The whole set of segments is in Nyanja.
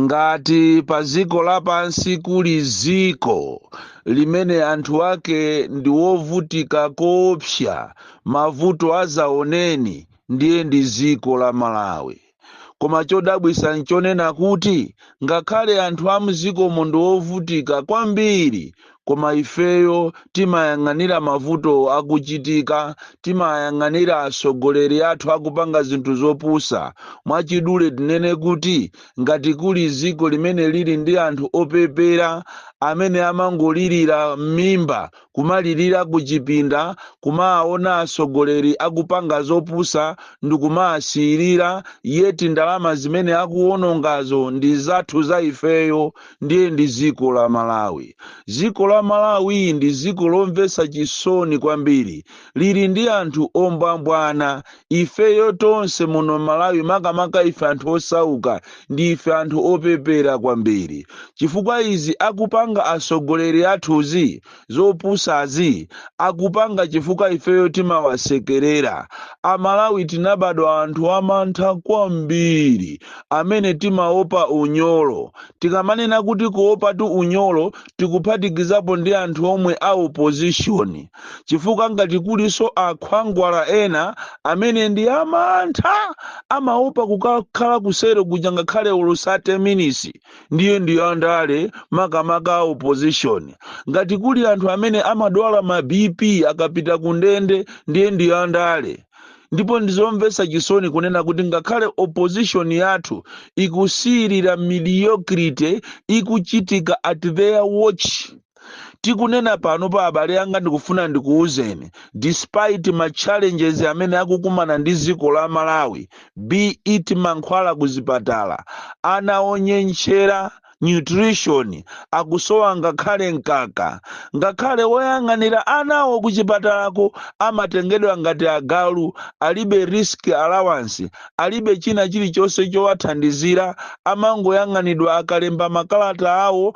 ngati pa dziko lapansi kuli dziko limene anthu ake ndi wovutika koopsa mavuto adzaoneni ndiye ndi dziko la malawi koma chodabwitsa nchonena kuti ngakhale anthu a mdzikomo ndi wovutika kwambiri koma ifeyo timayang'anira mavuto akuchitika, timayang'anira atsogoleri athu akupanga zinthu zopusa. Mwachidule tinene kuti ngati kuli dziko limene lili ndi anthu opepera amene amangolirira m'mimba, kumalirira kuchipinda, kumaona atsogoleri akupanga zopusa ndikumaasiyirira, yet ndalama zimene akuwonongazo ndi zathu za ifeyo, ndiye ndi dziko la malawi dziko la malawi ndi dziko lomvetsa chisoni kwambiri lili ndi anthu ombwambwana ifeyo tonse muno malawi makamaka ife anthu osauka ndi ife anthu opepera kwambiri chifukwa izi akupanga atsogoleri athuzi zopusazi akupanga chifukwa ifeyo timawasekerera. A Malawi tinabadwa anthu amantha kwambiri amene timaopa unyolo. Tikamanena kuti kuopatu unyolo tikuphatikizapo ndi anthu omwe a opposition chifukwa ngati kulinso a khwangwala ena amene ndi amantha amaopa kukakhala ku selo kuja ngakhale olo 30 minisi ndiye ndi andale makamaka a opposition ngati kuli anthu amene amadwala ma bp akapita ku ndende ndiye ndi andale ndipo ndizomvetsa chisoni kunena kuti ngakhale opposition yathu ikusiyirira mediocrity ikuchitika at their watch tikunena panopa abale anga ndikufuna ndikuwuzeni despite ma challenges amene akukumana ndi dziko la malawi be it mankhwala ku zipatala ana onyentchera nutrition akusowa ngakhale mkaka ngakhale woyang'anira anawo ku chipatalako amatengedwa ngati agalu alibe risk allowance alibe china chilichonse chowathandizira, amangoyang'anidwa akalemba makalata awo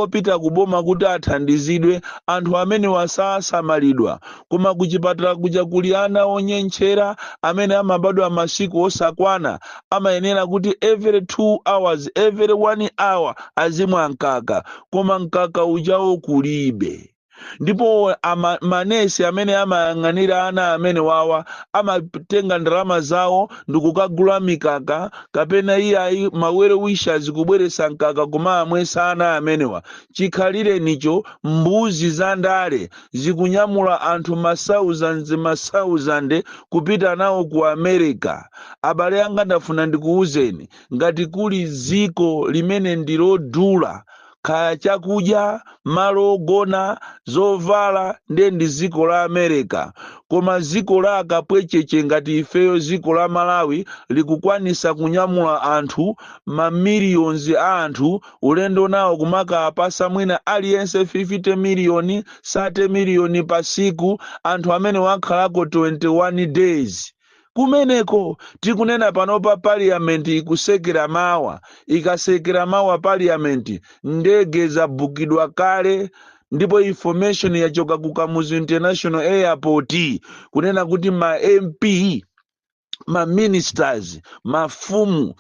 opita ku boma kuti athandizidwe, anthu amenewa sasamalidwa. Koma kuchipatala kuja kuli ana onyentchera amene amabadwa masiku osakwana, amayenera kuti every 2 hours, every 1 hour azimwa mkaka, koma mkaka ujawo kulibe. ndipo manesi amene amayang'anira ana amene wawa amatenga ndalama zawo ndikukagula mikaka kapena iyayi ma well wishers kubweretsa mkaka kumamwesa ana amenewa chikhalirenicho mbuzi za ndale zikunyamula anthu masauzand masauzande kupita nawo ku america abale anga ndafuna ndikuwuzeni ngati kuli dziko limene ndilodula kaya chakudya, malo ogona, zovala nde ndi ziko la America koma ziko la akapwecheche ngati ifeyo ziko la Malawi likukwanisa kunyamula anthu ma millions a anthu ulendo nawo kumakaapasa mwina aliyense 50 miliyoni 30 miliyoni pasiku anthu amenewo akhalako 21 days Kumeneko, tikunena panopa parliament ikusekera mawa, ikasekera mawa parliament, ndege zabukidwa kale ndipo information yachoka ku Kamuzu International Airport kunena kuti ma MP ma ministers mafumu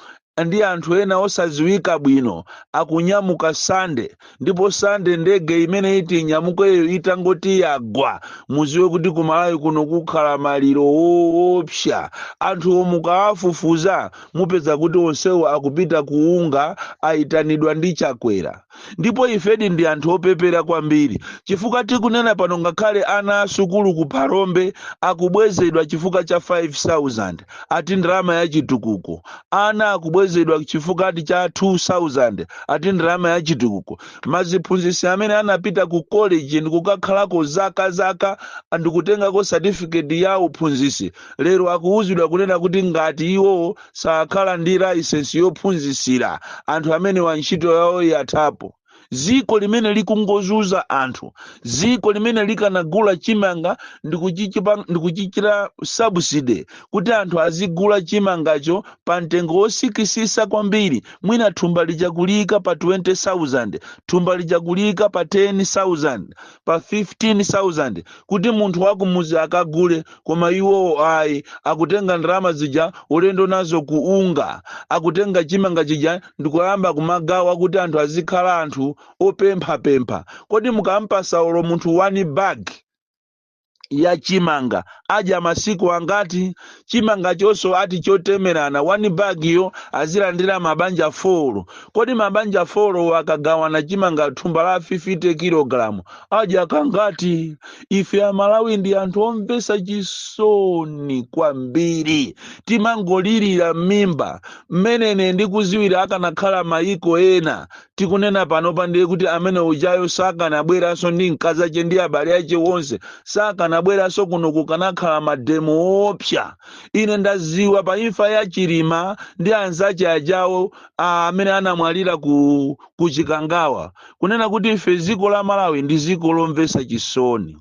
ndi anthu ena osadziwika bwino akunyamuka sande ndipo sande ndege imene iti inyamukeyo itangoti yagwa muziwe kuti ku Malawi kuno kukhala maliro woopsa anthuwo mukawafufuza mupeza kuti onsewo akupita ku UNGA ayitanidwa ndi chakwera ndipo ifedi ndi anthu opepera kwambiri chifukwa tikunena pano ngakhale ana asukulu ku phalombe akubwezedwa chifukwa cha 5000 ati ndalama ya chitukuko ana akubwezedwa chifukwa cha 2000 ati ndalama ya chitukuko maziphunzitsi amene anapita ku college ndikukakhalako zaka zaka ndikutengako certificate ya uphunzitsi lero akuwuzidwa kunena kuti ngati iwowo sakhala ndi layisensi yophunzitsira anthu amenewa ntchito yawo yathapo dziko limene likungozuza anthu dziko limene likanagula chimanga ndikuchichita subsidize kuti anthu azigula chimangacho pa mtengo wosikisisa kwambiri mwina thumba lija kuliyika pa 20000 thumba lija kuliyika pa 10000 pa 15000 kuti munthu wakumuzi akagule koma iwowo ayi akutenga ndalama zija ulendo nazo ku UNGA akutenga chimanga chija ndikuyamba kumagawa kuti anthu azikhala anthu opemphapempha kodi mukampasa olo munthu one bag ya chimanga adya masiku angati chimangachonso ati chotemerana one bag yo azilandira mabanja 4 kodi mabanja 4 wo akagawana chimanga thumba la 50 kilogalamu adya kangati ife amalawi ndi anthu omvesa chisoni kwambiri timangolirira m'mimba mmene ine ndikuziwira akanakhala mayiko ena Tikunena panopa ndiye kuti amene ujayo sakanabweranso ndi mkazi ache ndi abale ache wonse. Sakanabweranso kuno kukanakhala mademo oopsa. Ine ndaziwa pa imfa ya Chilima ndi anzache ajawo a, amene anamwalira ku, ku Chikangawa. Kunena kuti ife ziko la Malawi ndi ziko lomvesa chisoni.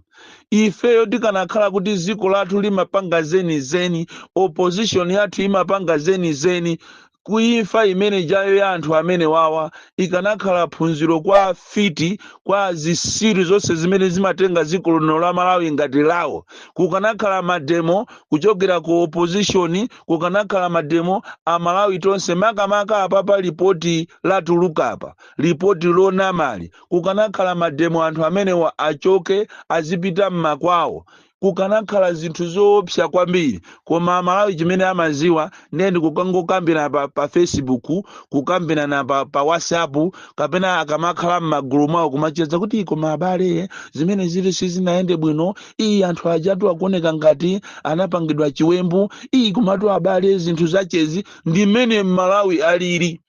Ifeyo tikanakhala kuti ziko lathu limapanga zeni zeni, opposition yathu imapanga zeni zeni, ku imfa imene ija yo ya anthu amenewawa ikanakhala phunziro kwa afiti kwa zisiru zonse zimene zimatenga dziko lino la malawi ngati lawo kukanakhala mademo kuchokera ku opposition kukanakhala mademo amalawi tonse makamaka apa pa lipoti latuluka apa lipoti lonamali kukanakhala mademo anthu amenewa achoke azipita m'makwawo kukanakhala zinthu zoopsa kwambiri koma amalawi chimene amaziwa ndiye ndikukangokambira pa, pa facebook kukambirana pa, pa whatsapp kapena akamakhala m'magulu mwawo kumacheza kuti koma abale zimenezitu sizinayende bwino ayi anthu ajatu akuoneka ngati anapangidwa chiwembu ayi komatu abale zinthu zachezi ndi mmene m'malawi alili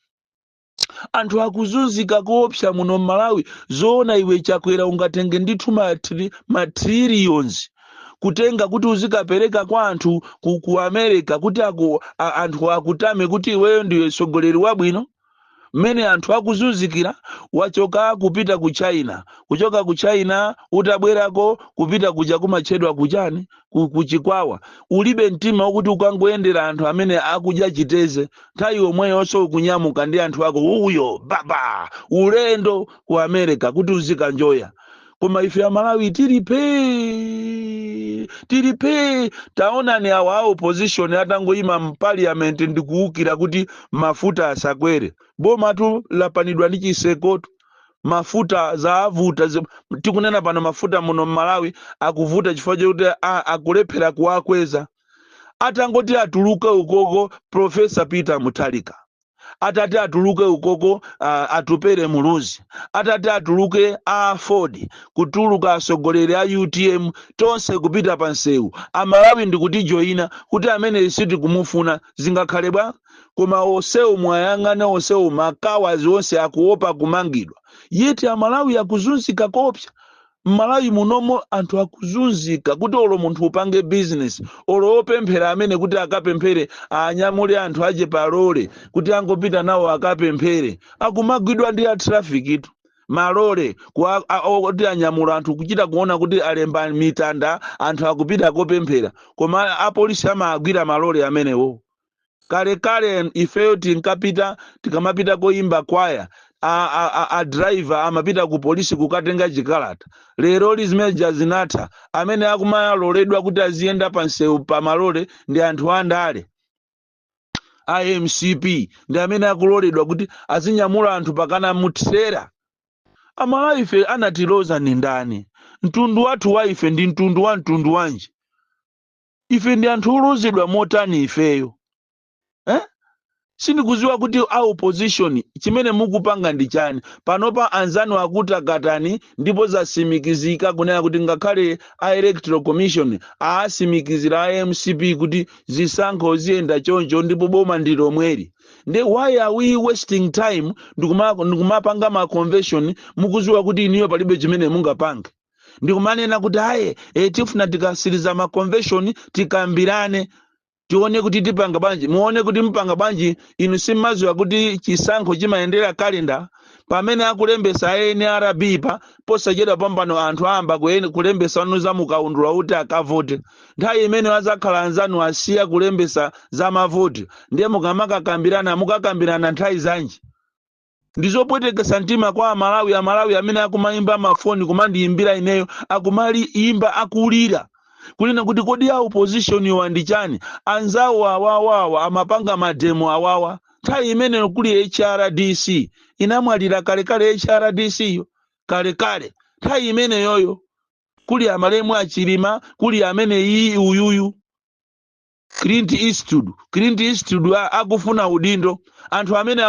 anthu akuzunzika koopsa muno mmalawi zoona iwe chakwera ungatenge ndithu ma tri- ma trillions kutenga kuti uzikapereka kwa anthu ku, ku america kuti aku, a, anthu akutame kuti iweyo ndiwe tsogoleri wabwino mmene anthu akuzunzikira wachoka kupita ku china kuchoka ku china utabwerako kupita kuja kumatchedwa kuchani ku, ku chikwawa ulibe mtima wokuti ukangoyendera anthu amene akudya chiteze nthawi yomweyonso ukunyamuka ndi anthu ako uyo baba ulendo ku america kuti uzikanjoya koma ife amalawi tili phee tili phee taonani awa a opposition atangoyima mpaliyamenti ndikuwukira kuti mafuta asakwere bomatu lapanidwa ndi chitsekotu mafuta zavuta zi- tikunena pano mafuta muno mmalawi akuvuta chifukwa chokuti a- akulephera kuwakweza atangoti atuluke ukoko profesa peter muthalika atati atuluke ukoko uh, atupere muluzi atati atuluke aford kutuluka atsogoleri a utm tonse kupita pa msewu amalawi ndikutijoyina kuti ameneyu sitikumufuna zingakhale bwa koma onsewo mwayang'ana onsewo makawadi onse akuopa kumangidwa yeti amalawi akuzunzika koopsa mmalawi munomo anthu akuzunzika kuti olo munthu upange bizinesi olo opemphera amene akuti akapemphere anyamule anthu ache palole kuti angopita nawo akapemphere akumagwidwa ndi a traffic tu malole kuwa- a- o- kuti anyamula anthu kuchita kuona kuti alemba mitanda anthu akupita kopemphera koma apolisi amagwira malole amenewo kalekale ifeyo tinkapita tikamapita koyimba kwaya a driver amapita ku polisi kukatenga chikalata leroli zimeja zinatha amene akumaloledwa kuti aziyenda pa msewu pa malole ndi anthu andale a mcp ndi amene akuloledwa kuti azinyamula anthu pakana mtsera amalawi ife anatilodza ndi ndani mtundu wathu wa ife ndi mtundu wa mtundu wanji ife ndi anthu olodzedwa motani ifeyo eh? sindikuziwa kuti a opposition chimene mukupanga ndi chani panopa anzanu akutakataka ndipo zasimikizika kunena kuti ngakhale a electoral commission aasimikizira a mcp kuti zisankho ziyenda choncho ndipo boma ndi lomweli nde why are we wasting time ndikumapanga ma convention mukuziwa kuti inuyo palibe chimene mungapange ndikumanena kuti ayi e, tifuna tikatsiriza ma convention tikambirane tione kuti tipanga bwanji muone kuti mpanga bwanji inu simmadziwa kuti chisankho chimayendera kalenda pamene akulembesa a nrb pa posachedwa pompano anthu ayamba kulembesa anthu za mukaundula kuti akavote nthawi imene azakhala anzanu asiya kulembesa za mavoti ndiye mukamakakambirana mukakambirana nthawi zanji Ndizopwetekesa mtima kwa amalawi amalawi amene akumaimba ma phone kumandiimbira ineyo akumaimba akulira kunena kuti kodi a opposition wa ndi chani anzawo awawa amapanga mademo awawa nthawi imeneyo kuli hrdc inamwalira kalekale hrdc yo kalekale nthawi imeneyoyo kuli amalemu achilima kuli amene iyi uyuyu clint eastwood clint eastwood akufuna udindo anthu amene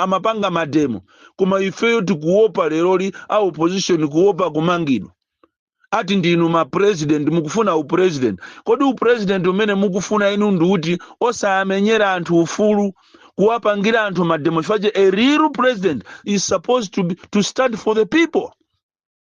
amapanga mademo koma ifeyo tikuopa leroli a opposition kuopa kumangidwa ati ndinu ma president mukufuna u president kodi u president umene mukufuna inu ndi uti osamenyera anthu ufulu kuwapangira anthu mademo chifukwa a real president is supposed to stand for the people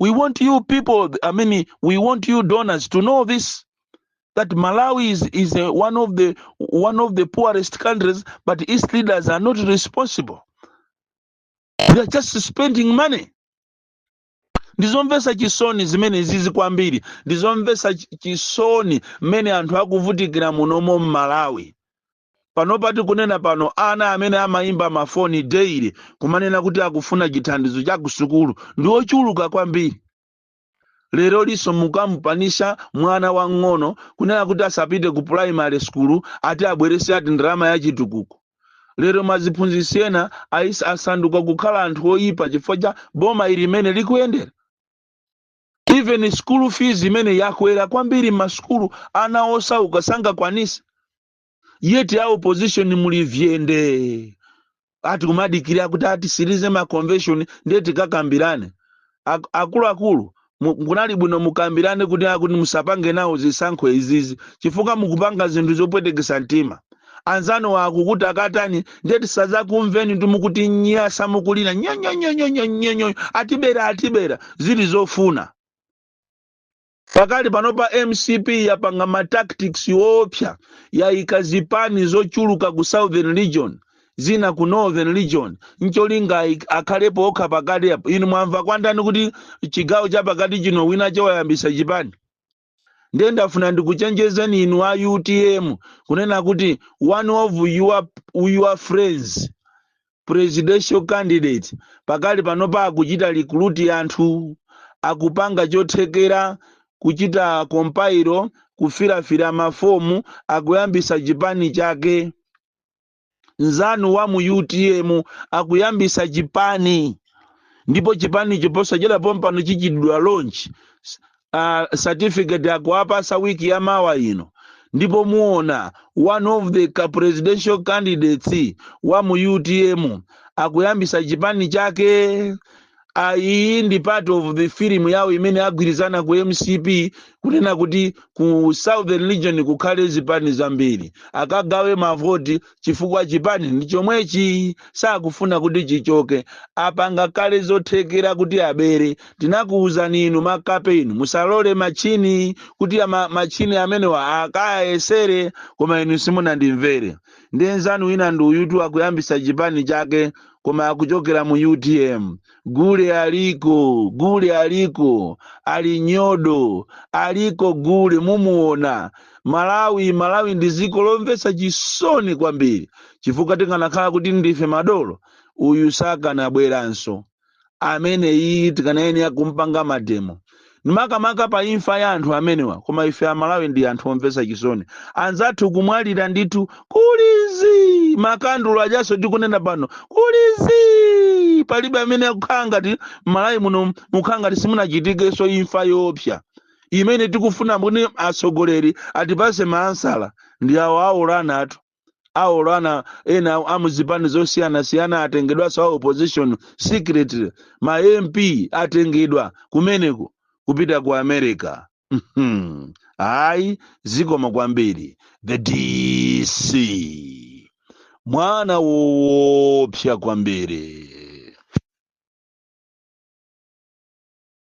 we want you people i mean we want you donors to know this that malawi is one of the one of the poorest countries but its leaders are not responsible they are just spending money ndizomvesa chisoni zimene zizi kwambiri ndizomvesa chisoni mmene anthu akuvutikira munomo mmalawi Panopa tikunena pano ana amene amaimba mafoni daily kumanena kuti akufuna chithandizo cha kusukulu ndi ochuluka kwambiri. Lerolinso mukamupanisha mwana wang'ono kunena kuti asapite ku pulayimale sukulu ati abweretse ati ndalama ya chitukuko. Lero maziphunzitsi ena asa- asanduka kukhala anthu oyipa chifukwa cha boma ili limene likuyendera. Even school fees imene yakwera kwambiri m'masukulu ana osauka sangakwanitse. yet a opposition muli vyende ati kumadikira kuti atisirize ma convention ndiye tikakambirane Ak- akuluakulu mu- kunali bwino mukambirane kuti akuti musapange nawo zisankho izizi chifukwa mukupanga zinthu zopwetekesa mtima anzanu akukuti akatani ndiye tisazakumveni mukutinyasa mukulira nyonyonyonyonyonyo atibera atibera zili zofuna Pakali panopa mcp yapanga ma tactics oopsa, yayika zipani zochuluka ku southern region, zina ku northern region ncholinga aik, akhalepo okha pakati apa. Inu mwamva kwandani kuti chigawo chapakati chino winache wayambisa chipani? Ndiye ndafuna ndikuchenjezeni inu a utm kunena kuti one of your, your friends presidential candidate pakali panopa akuchita recruit anthu akupanga chothekera kuchita compile kufirafira mafomu akuyambisa chipani chake nzanu wa mu utm akuyambisa chipani ndipo chipanicho posachedwa pompano chichitidwa launch uh, certificate akuwapasa wiki ya mawa ino ndipo muona one of the ca- presidential candidates wa mu utm akuyambisa chipani chake Ah, iyi ndi part of the film yawo imene agwirizana ku mcp kunena kuti ku southern region kukhale zipani zambiri akagawe mavoti chifukwa chipani ndi chomwechi sakufuna kuti chichoke apanga kale zothekera kuti abere tinakuwuzani inu makape inu musalole matchini kuti ama, matchini amenewa akayesere koma inu simunandimvere ndiye nzanu wina ndi uyutu akuyambisa chipani chake koma akuchokera mu utm gule aliko gule aliko alinyodo aliko gule mumuona malawi malawi ndi dziko lomvetsa chisoni kwambiri chifukwa tikanakhala kuti ndife madolo uyu sakanabweranso amene iyi tikanayenera kumpanga mademo Makamaka pa imfa ya anthu amenewa koma ife amalawi ndi anthu omvetsa chisoni. Anzathu kumwalira ndithu kuli zii! Makandulo ajanso tikunena pano kuli zii! Palibe amene akukhala ngati m'Malawi muno mukukhala ngati simunachitikenso imfa yoopsa imene tikufuna kuti atsogoleri atipatse ma ansala ndi awo awulula anatu. aolo ana ena a mu zipani zosiyanasiyana atengedwanso a opposition secretly ma mp atengedwa kumeneko kupita ku america Mhm. ayi zikomo kwambiri the dc mwana woopsa kwambiri